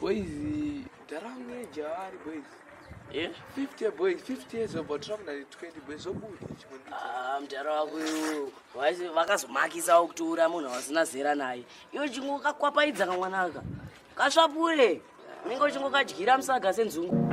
Boys, daranga jari boys. Eh? 50 boys, 50 years old, but trouble at 20 boys, so good. Ah, mdara wako iwo. Waisi vakazomakisa okutura munhu wasina zera naye. Iwe chingo kakwapaidza kamwanaka. Kasvapure. Unenge uchingo kadyira musaga senzungu.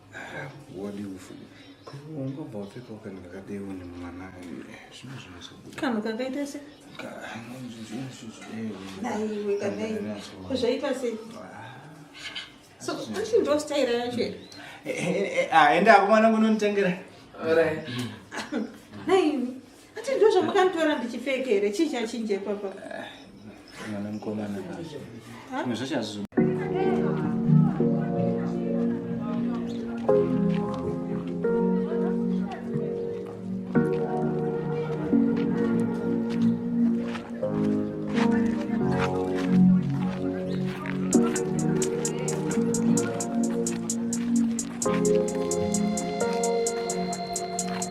kanhu kakaita se naiwe kanai kuzvaita se so achi ndo staira yacho here aenda akomana kunonitengera naiwe Ati ndizvo zvamukanditora ndichipfeke here chii chachinja ipapa eh, mwana mukomana zvimwe zvacho hazvizo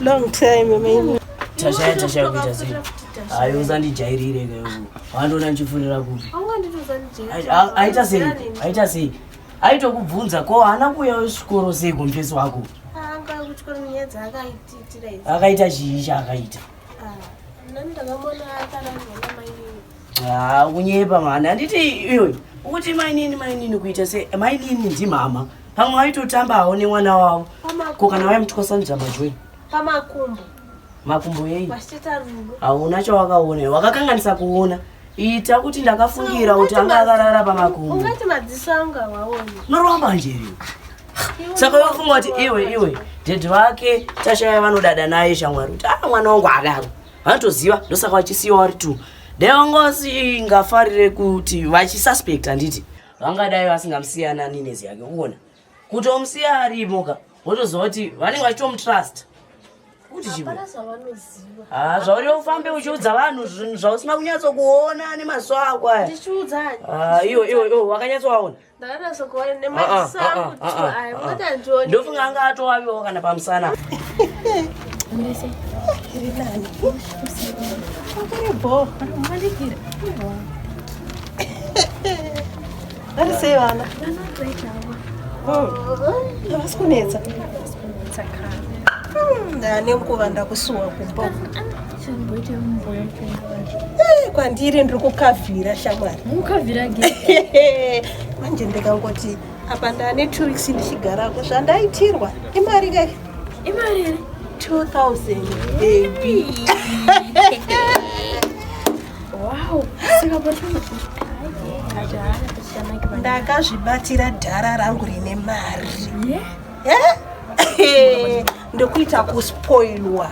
long time amai tashaya tashaya kuita sei hayi usandijairire ke wandiona ndichifurira kupi aita sei aita sei aitokubvunza ko haana kuuya wechikoro sei kumfesi wako akaita chii chaakaita ah, Haa kunyepa mhani handiti iwe ukuti mainini mainini kuita se mainini ndimama pamwe waitotambawo nemwana wavo ko kana waimutwasanidza majoi pamakumbo makumbo yei hauna chawakaona wakakanganisa kuona ita kuti ndakafungira kuti anga akarara pamakumbo noromba njeri saka wafunga kuti iwe iwe dhedhi vake tashaya vanodada naye shamwari kuti a ah, mwana wangu adaro vanotoziva ndosaka vachisiwa vari two dai vanga vasingafarire kuti vachisuspect handiti vangadai vasingamusiyana ninezi yake kuona kutomusiya arimoka votoziva kuti vanenge vachitomutrust kuti chimwe ah, zvauri ufambe uchiudza vanhu zvinhu zvausina kunyatsokuona nemaziso ako aya ah, iwe iwe iwe wakanyatsovaona ndofunga anga atowaviwo kana pamusana vari sei vana havasi kunetsa ane nguva ndakusuwa kumba Eh, kwandiri ndiri kukavhira shamwari mukavhira manje ndikangoti apa ndane two weeks ndichigarako zvandaitirwa imari kai imari here 2000 baby wow ndakazvibatira dhara rangu rine mari yeah? yeah? ndokuita kuspoilwa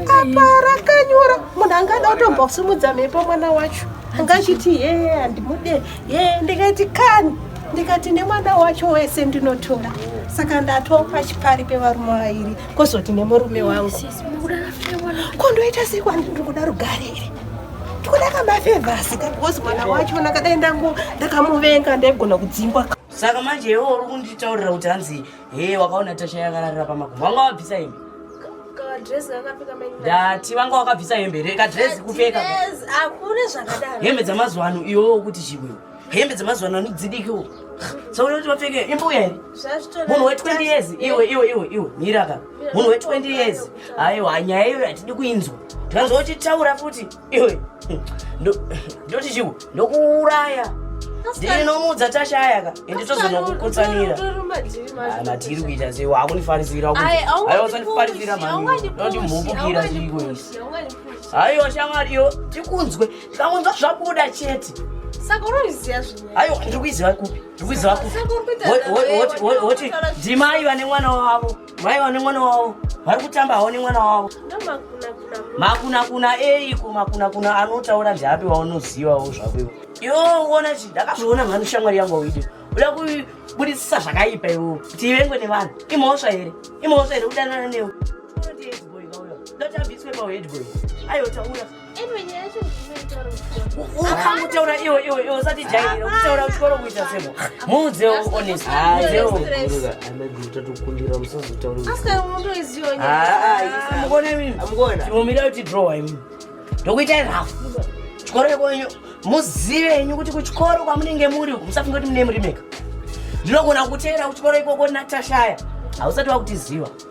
apa rakanyora munhu angada kutombosimudza mhepo mwana wacho anga achiti yee handimude yee ndikaiti kani ndikati nemwana wacho wese ndinotora saka ndatopa chipari pevarume vairi kozoti nemurume wangu kondoita sei kwandi ndiri kuda rugare iri ndikuda kamafevhasi kakozi mwana wacho nakadai ndangu ndakamuvenga ndaigona kudzingwa saka manje iwo uri kunditaurira kuti hanzi Hey, wakaona tasha yakararira pamakumbo. Wanga wabvisa hembe. Kadress kakapfeka main. Ndati wanga wakabvisa hembe here? Kadress kupfeka. Yes, akune zvakadaro. Hembe dzamazuva ano iwo kuti chibwe. Hembe dzamazuva ano dzidiki wo. Saka unoti wapfeke imbo uya here? Munhu we 20 years iwe iwe iwe iwe miraka. Munhu we 20 years. Aiwa nyaya iyo hatidi kuinzwa. Tikanzwa uchitaura futi. iwe ndoti chiwo ndokuuraya ndinomuudza tashaya ka ende tozonokukutsanira matiri kuita sei wakunifarisira aiwasanifarisira manoti mhupukira chiiko isi aiwa shamwariyo tikunzwe tikangonzwa zvabuda chete saka unoziva zvinhu aiwa ndiri kuiziva kupi ndiri kuiziva kupi woti ndimai vane mwana wavo mai vane mwana wavo vari kutamba havo nemwana wavo makunakuna eiko makunakuna anotaura zvapi waunozivawo zvako ivo iwo uona chi ndakazviona mhani shamwari yangu auidi uda kubudisisa zvakaipa iwo kuti ivengwe nevanhu imhosva here imhosva here kudanana newe ndotabviswe paheadboy ayotaura ukamutaura iwe iwe iwe usati jairira kutaura uchikoro kuita semo muudze honest mukone kuti draw imi ndokuitai rafu chikoro ikwenyu muzive henyu kuti kuchikoro kwamunenge muri musafunge kuti mune murimeka ndinogona kuteera kuchikoro ikoko natashaya hausati wakutiziva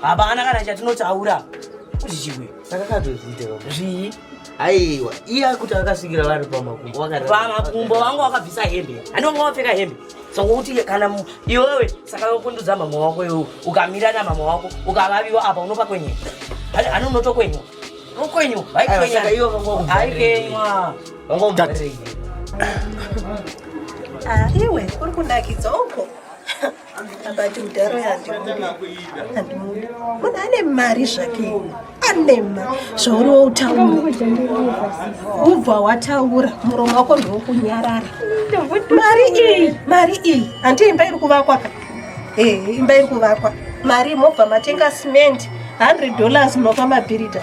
hapana kana chatinotaura kuzvichikwe takakatozviita zvii aiwa iye akuti akasvikira vari pamakumbo pamakumbo vangu wakabvisa hembe ani vanga wapfeka hembe sokuti kana iwewe saka kundudza mama wako iwe ukamira na mama wako ukavaviwa apa unopa kwenyu ani unoto kwenyu ukwenyu haikenywa iwe uri kundakidza uko akati mudhara yandimundi munhu ane mari zvake ane mari zvauri woutaura ubva wataura muromo wako ndokunyarara mari iyi mari iyi hanti imba iri kuvakwa ka ee eh, imba iri kuvakwa mari mobva matenga cement 100 dollars munopa mabhirida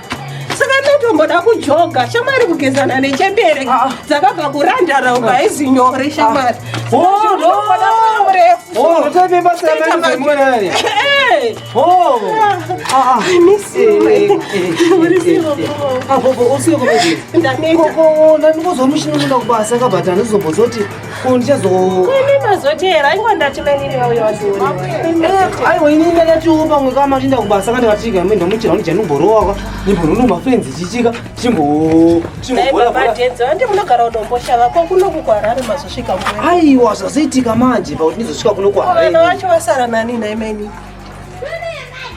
saka ndotomboda kujoga shamari kugezana nechembere ah. dzakabva kurandara uka haizi nyore ah. shamari ndandikozomushinonoda kubasa kabhata ndizobozoti aiwa ini ndakatiwo pamwe kama tinda kubasa ka ndikatika amwe ndamuchira kuti janumborowaka ndimbonono mafenzi chichika chimboaiwa zvazoitika manje pakuti ndizosvika kuno kwaaiwa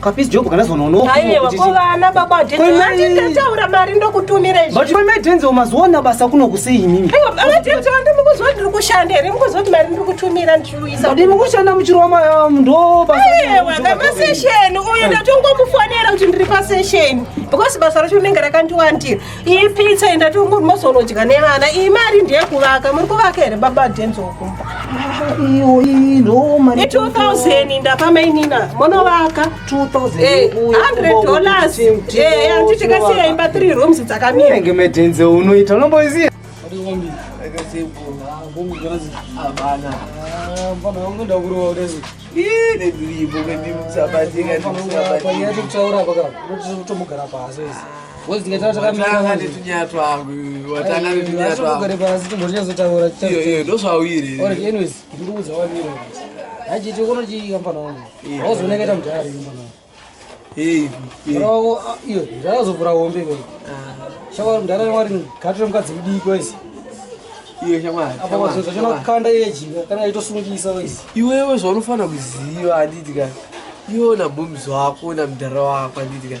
Kapis job kana zona unoku. Aiwa ko vana baba Denzo vati ndataura mari ndokutumira izvi. But for my Denzo mazoona basa kuno kusei nini? Aiwa baba Denzo vandi mukuzwa ndiri kushanda here mukuzwa kuti mari ndiri kutumira ndichiuyisa. But mukushanda muchiroma um, ndo basa. Aiwa kama session uyu ndatongomufonera kuti ndiri pa session because basa racho rinenge rakandiwandira. iyi pizza enda tumuri mozonodya nevana iyi mari ndeyekuvaka muri kuvaka here baba denzo kumba iyo iyi no mari 2000 ndapa mainina monovaka 2000 eh, dollars eh anti tikasiya imba 3 rooms dzakamira nge medenze unoita unomboziya Ii, watanga netunyatwa watanga netunyatwaiyo ndosvauyire achiti kono chikambana wangu auzoneketa mudhari kambana wangu iyo ndakazovhura hombe ko shamwari mudhara mwari gatire mukadzi mudiki waisi iyo shamwari apa kwazoita chonakukanda iye jinga kana itosungisa waisi iwewe zvaunofana kuziva anditi ka iwo nabhomzi wako namudhara wako anditi ka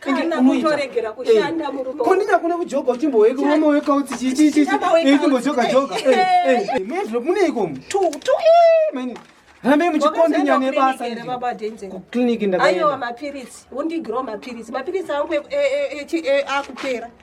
kana kutoregera eh, kushanda murume ko ndina kuna kujoga uchimbowe ku mama weka uti chi chi chi eh chimbojoga joga eh eh mimi ndro mune iko tu tu eh mimi hambe muchikondi nyane basa ni baba denze ku clinic ndakaenda ayo mapiritsi undi grow mapiritsi mapiritsi angu e e e akupera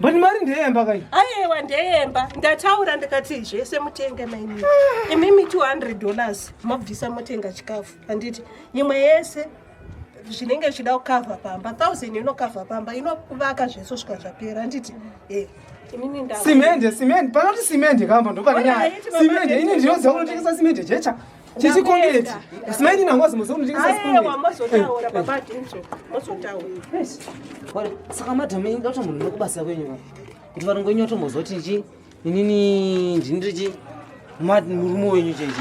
but mari ndeyemba kai ayewa ndeyemba ndataura ndikati zvese mutenge maini imimi 200 dollars mobvisa motenga chikafu handiti imwe yese zvinenge zvichida kukavha pamba thousand inokavha pamba inokuvaka zvese svika zvapera handiti e simende simende panoti simende kamba ndopane nyaya simende ini ndinoziva kunotengesa simende jecha Chichi congoleti. Simaini na ngozi muzono ndingi sasa kumwe. Ayewa mozotaura baba tincho. Mozotaura. Yes. Wale saka madam inga kuti munhu nokubasa kwenyu. Kuti varongo nyu to mozoti nji. Nini ndinri ji. Mad murumo wenyu jeje.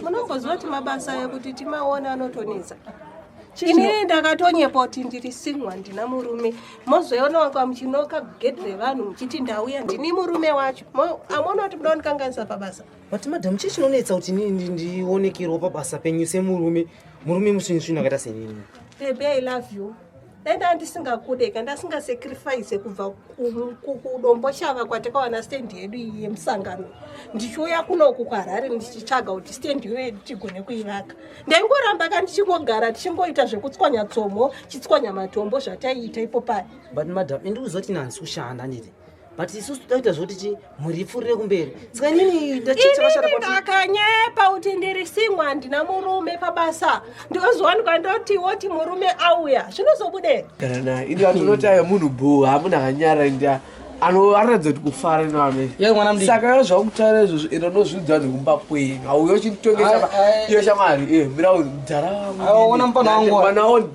Munongoziva kuti mabasa ekuti timaona anotonetsa. Ini ndakatonyepa kuti ndiri single handina murume. Mozoona wanga muchinoka gate revanhu muchiti ndauya ndini murume wacho. Amona kuti muda kundikanganisa pabasa. but madam chii chinonetsa kuti inini ndionekerwa pabasa penyu semurume murume musvinisvini akaita senini baby i love you dai ndaa ndisingakude ka ndasingasacrifice kubva kudombo shava kwatakawana stand yedu iyi yemusangano ndichiuya kunoku kwarhari ndichitsvaga kuti stand iyoye tichigone kuivaka ndaingoramba ka ndichingogara tichingoita zvekutswanya tsomo chitswanya matombo zvataiita ipo paya but madam indikuziva kuti nanzi kushanda nditi but isusu todakuita zvoti ti mhuri ipfuurire kumberi saka inini ndakanyepa kuti ndiri singwa handina murume pabasa ndozowanikwa ndoti woti murume auya zvinozobude kana ini vatonoti ayo munhu bhuu hamuna kanyara nda anoratidza kuti kufara nanosaka yo zvakutaura izvozvo enda unozviudza vanhu kumba kwenyu hauyo chinditongesa iyo shamwari eh, mira mudhara wangu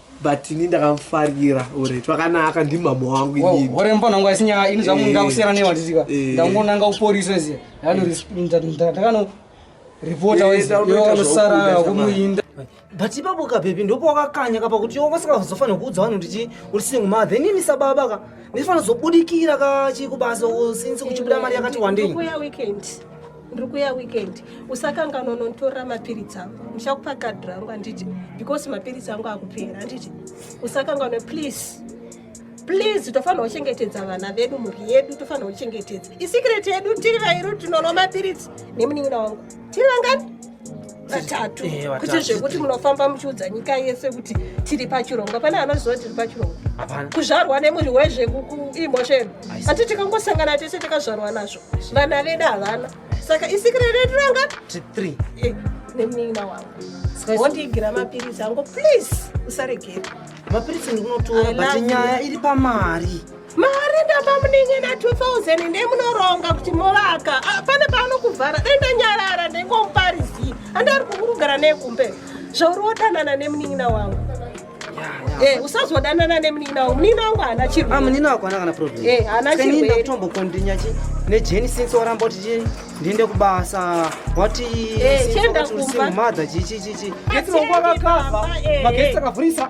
but ini ndakamufarira ore twakanaka ndimama wangu inini ore mupana wangu asi nyaya ini zvamu ndakusiyana newa tichika ndangonanga uporiswe ziya ndakano reporter wese yonosara kumuinda but ipapo kabhebhi ndipo wakakanya kapa kuti yo vasikazofanira kuudza vanhu kuti uri single mother inini sababa ka ndifanira zobudikira ka chikubasa since kuchibuda mari yakati wandei ndiri kuya weekend usakanganwa unonditorera mapiritsi angu ndichakupa kadhi rangu handiti because mapiritsi angu akupera handiti usakanganwe please please tofanira kuchengetedza vana vedu mhuri yedu tofanira kuchengetedza isikireti yedu tiri vairu tinonwa mapiritsi nemunin'ina wangu tiri vangani vatatu eh, kuti zvekuti munofamba muchiudza nyika yese kuti tiri pachirongwa pane anoziva tiri pachirongwa kuzvarwa nemuri wezvekuimhosheni ati tikangosangana tese takazvarwa nazvo vana vedu havana saka isikire redu ranga eh, nemunin'ina wangu wondiigira mapiritsi angu please usaregere mapiritsi ndikunotora but nyaya iri pamari mari ndapamuningina 2000 ndemunoronga kuti movaka ah, pane paanokuvhara dai ndanyarara ndengomuparizii andari kukurugara nekumbe zvauri wodanana nemunin'ina wangu Eh, usazodanana nemunin'ina wangu munin'ina wangu haana chirwere ah, munin'ina wako haana kana problem eh, haana chirwere ndakutombokondinya chi nejeni since waramba kuti chii ndiende kubasa wati eh, chienda kumba mother chichi chichi getsi wangu akakava magesi akavhurisa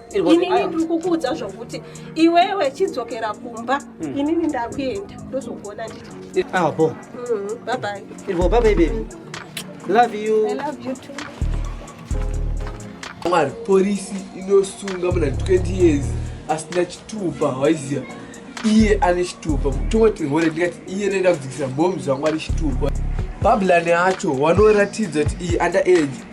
inini ndiri kukuudza zvokuti iwewe chidzokera kumba hmm. inini ndakuenda ndozokuona nditi apo ah, hmm, babai irwo babai bebi love you i love you too mwari porisi inosunga muna 20 years asina chitupa waiziva iye ane chitupa tongoti hore ndikati iye nenda kudzikisa mhomi zvamwari chitupa babulani acho wanoratidza kuti iyi under age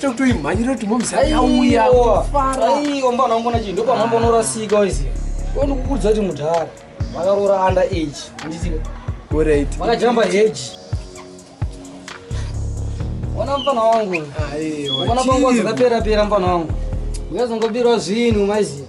tokutoimhanyira kuti momzauya aiwa mbana wangona chii ndopamhambo unorasika waiziva onikukuudza kuti mudhara vakaroora under age andizive orit vakajamba heji ona mfana wangu ona panguva dzakaperapera mfana wangu uyazongobirwa zvinhu maiziva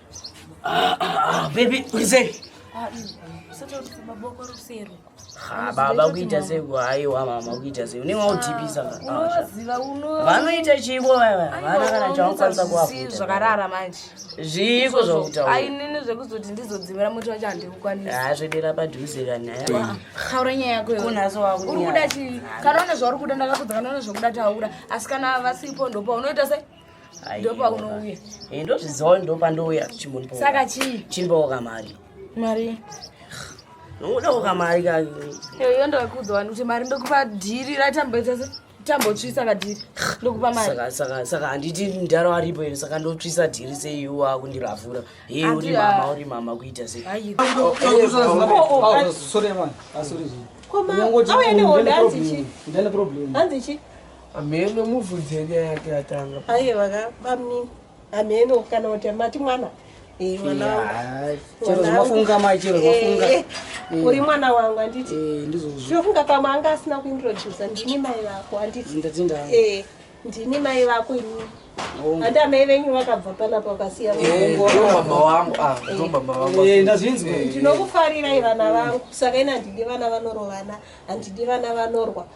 Ah, ah, ah, baby, urizei? Ah, ah, baba kuita sei kuhaiwa mama kuita sei unenge wautipisa vanoita chiiko vana kana chaunokwanisa kuvakuitazvakarara manje zviiko zvakutaurainini zvekuzoti ndizodzimira muti wacho handikukwanisa haa zvedera padhuze kanyaya haura nyaya yako kunhasi wakuuri kuda chii kana une zvauri kuda ndakakudza kana une zvokuda taura asi kana vasipo ndopa unoita sei ndopaunouya eh, ndozviziva ndopandouya chimbosaka chii chimboka mari mari ndokudoka mari kayo ndokuudza vanhu kuti mari ndokupa dhiri ratamboita se tambotsvisa kadhiri ndokupa marisaka handiti ndaro aripo here saka ndotsvisa dhiri seiwo akundiravhura hei uri mama uri mama kuita se Hameno muvhudze nyaya yake yatanga. Aye vaka bamni. Hameno kana kuti mati mwana. Eh mwana. Yeah. Chero zvafunga mai chero zvafunga. Eh, eh. Uri mwana wangu anditi. Eh ndizozvo. Zvafunga pamwe anga asina kuintroduce ndini mai vako anditi. Ndatinda. Eh ndini mai vako ini. Handi amai venyu vakabva panapa vakasiya eh, mama wangu ah, eh. ndazvinzwa ndinokufarirai vana vangu saka ini handidi vana vanorovana handidi vana vanorwa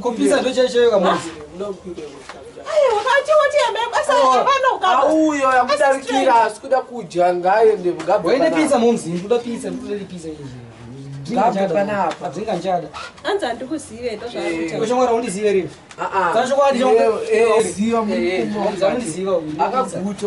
kupisa ndochaichayo kamozi auyo yamudarikira asi kuda kudya ngaende waine pisa momzi ndoda pisa ndoda pisa izvi akaguta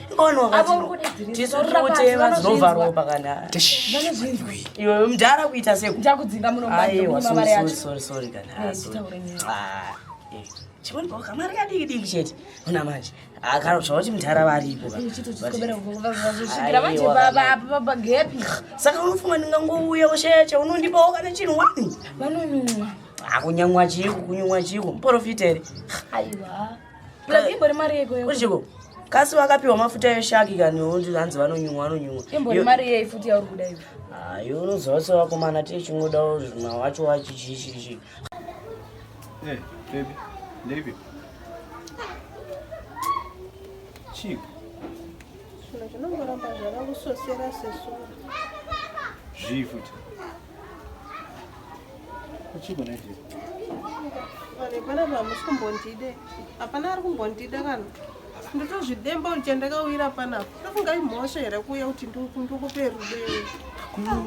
iwe mdhara kuita sekuchimari kadiki diki chete ona manje akarotsva kuti mdhara varipo saka unofunga ndingangouya ushaya chaunondipawo kana chinhu wani akunyamwa chiiko kunyumwa chiiko muporofita here aiwa Uchiko kasi vakapiwa mafuta eshaki kani ondi hanzi vanonyumwa vanonyumwa. Imbori mari yei futi yauri kuda iwe. Ah, iwe unoziva se vakomana tiye chingoda zvima wacho wachi chi chi chi. Eh, baby. Baby. Chief. Shona chinongoramba zvava kusosera sesura. Zvii futi. Hapana pamusi kumbondide. Hapana ari kumbondida kana. Ndotozvidemba kuti chandakawira panapa. Ndofunga imhosva here kuuya kuti ndikupe rudo iwe.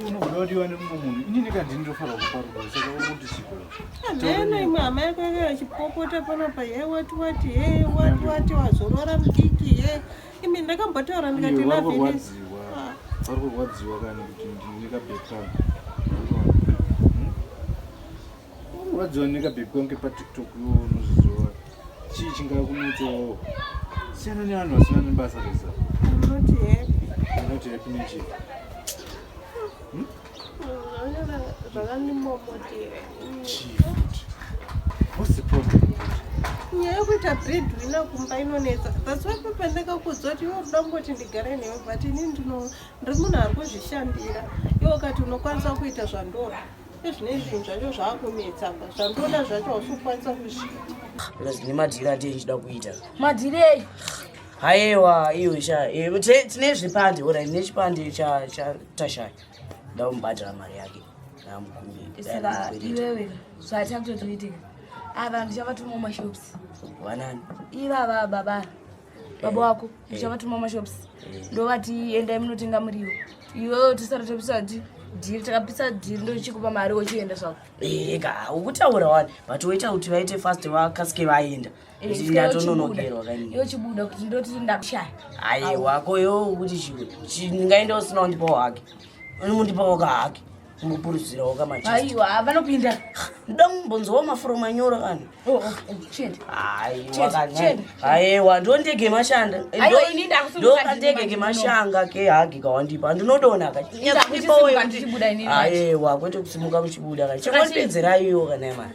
Unoda wadiwa nemumwe munhu. Ini ndikati ndinofanira kupa rudo saka uri kuti siko. Hameno imwe hama yako yakachipopota panapa. Hey wati wati hey wati wati wazorora mudiki hey. imi ndakambotaura ndikati navenesi vari kurwadziwa kani kuti ndine kabhekani kurwadziwa neka bhebhi kwange patiktok yo unozviziva chii chingava kunetsawo siyana nevanhu vasina nebasa resa not happy nechii What's the problem? nyaya yekuita breadwinner kumba inonetsa thats why papendeka kudzwa kuti iwe unoda kungoti ndigare newe but ini ndino ndiri munhu ari kuzvishandira iwe ukati unokwanisa kuita zvandoda ezvine zvinhu zvacho zvaakunetsa pa zvandoda zvacho hausi kukwanisa kuzviita plus nemadhiri andie ndichida kuita madhiri eyi haiwa iyo sha eh, te- tine zvipande ora ndine chipande cha- cha- tashaya ndakumubhadhara mari yake ndamukumbira saka iwewe zvatakutotoitika ava ndichavatuma mashops wanani ivava baba baba wako ndichavatuma mashops ndovati endai munotenga muriwo iwewe tisara tapisa dhi- dhiri takapisa dhiri ndochikupa mari wochienda zvako eka ukutaura wani but woita kuti vaite fast vakasike vaenda ndatononokerwa kainiyochibuda kuti ndoti ndakushaya ayi wako yo kuti ndingaenda usina undipawo hake undipawo ka hake mupuruzirawo kamaiwa vanopinda ndoda mumbonzowa mafuro manyoro vanhu oh, oh, oh, aiwa ndo ndege mashanda ndo kandege kemashanga kehagi kawandipa handinodona kaiwa kwete kusimuka muchibuda ka chekondipedzeraiwo kana mari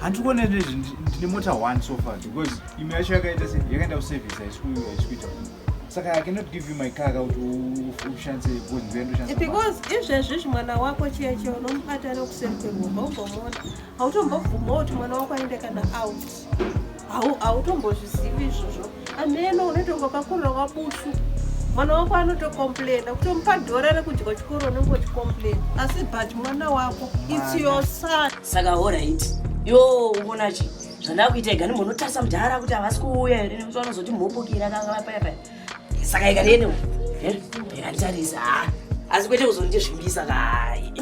handiri kuona nezvi ndine mota one so far because imwe yacho yakaita yakaenda kuservice haisikuita saka i cannot give you my car ka kuti ushandise because ndive ndoshandisa because izvezvi izvi mwana wako chiye chiye unomubata nekuseri kwerumba umbomona hautombobvuma kuti mwana wako aende kana out hautombozivi izvozvo ameno unotongopakurira wabusu mwana wako anotokomplaina kutomupa dhora rekudya chikoro unenge uchikomplaina asi but mwana wako its your son saka horaiti yo umonachi zvandakuita igani munotarisa mudhara kuti havasi kuuya here nekuti vanozoti mhopokira kakapayapaya saka ikadienewo ikanditarisa eh, asi kwete kuzondizvimbisa kai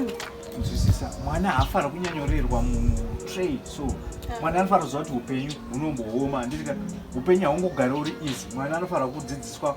nzwisisa mwana haafana kunyanyorerwa munhu trade so mwana anofana kuziva kuti upenyu hunombooma handiti ka upenyu haungogari uri easy mwana anofana kudzidziswa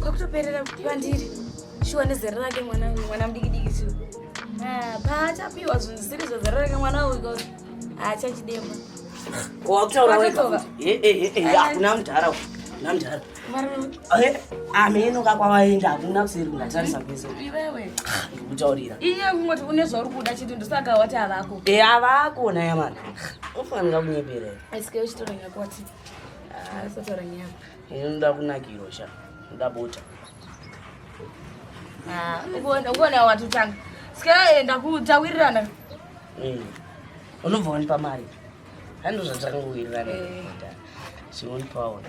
kwakutoperera pandiri shuwa nezera rake mwana uyu mwana mudikidiki shuwa ah, paachapiwa zvinhu zvisiri zvazera rake mwana uyu koti haachachidema wakutauraakuna eh, eh, eh, mudhara kuna mudhara ameno kakwavaenda hakuna kuseri kungatarisa kwese ndikutaurira iye kungoti une zvauri kuda chiti ndosaka wati avako e avako nayamana ufanira kunyeperera Asatora nyama. Inoda kunakirwa sha. Inoda bota. Ah, ugoona ugoona watotanga. Sika enda kutawirirana. Mm. Unobva wanipa mari. Handizvo zvatanga kuwirirana. Eh. Siwonipa wona.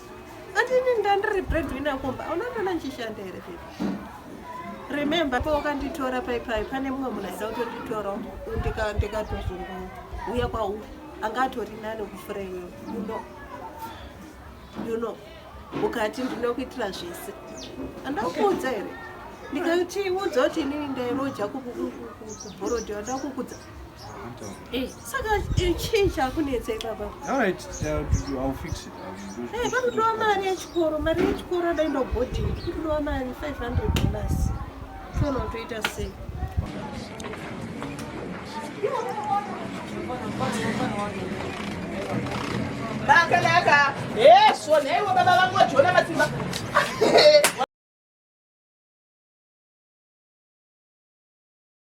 Atini ndandiri breadwinner kumba hauna kana ndichishanda here baby remember pa wakanditora paipai pane mumwe munhu aida kutonditora ndikatozongouya kwauri anga atori nani kufura iwe uno you know ukati ndinokuitira zvese andakuudza here ndikatiudza kuti inini ndairoja kubhorodhi andakukudza Eh, saka eh, chii chakunetsa ipapa eh, panotowa mari yechikoro mari yechikoro adai ndobhodhingi kutotowa mari 500 dollars tona utoita sei bakanaka hesvo nhaiwo baba vangu vajona matsimba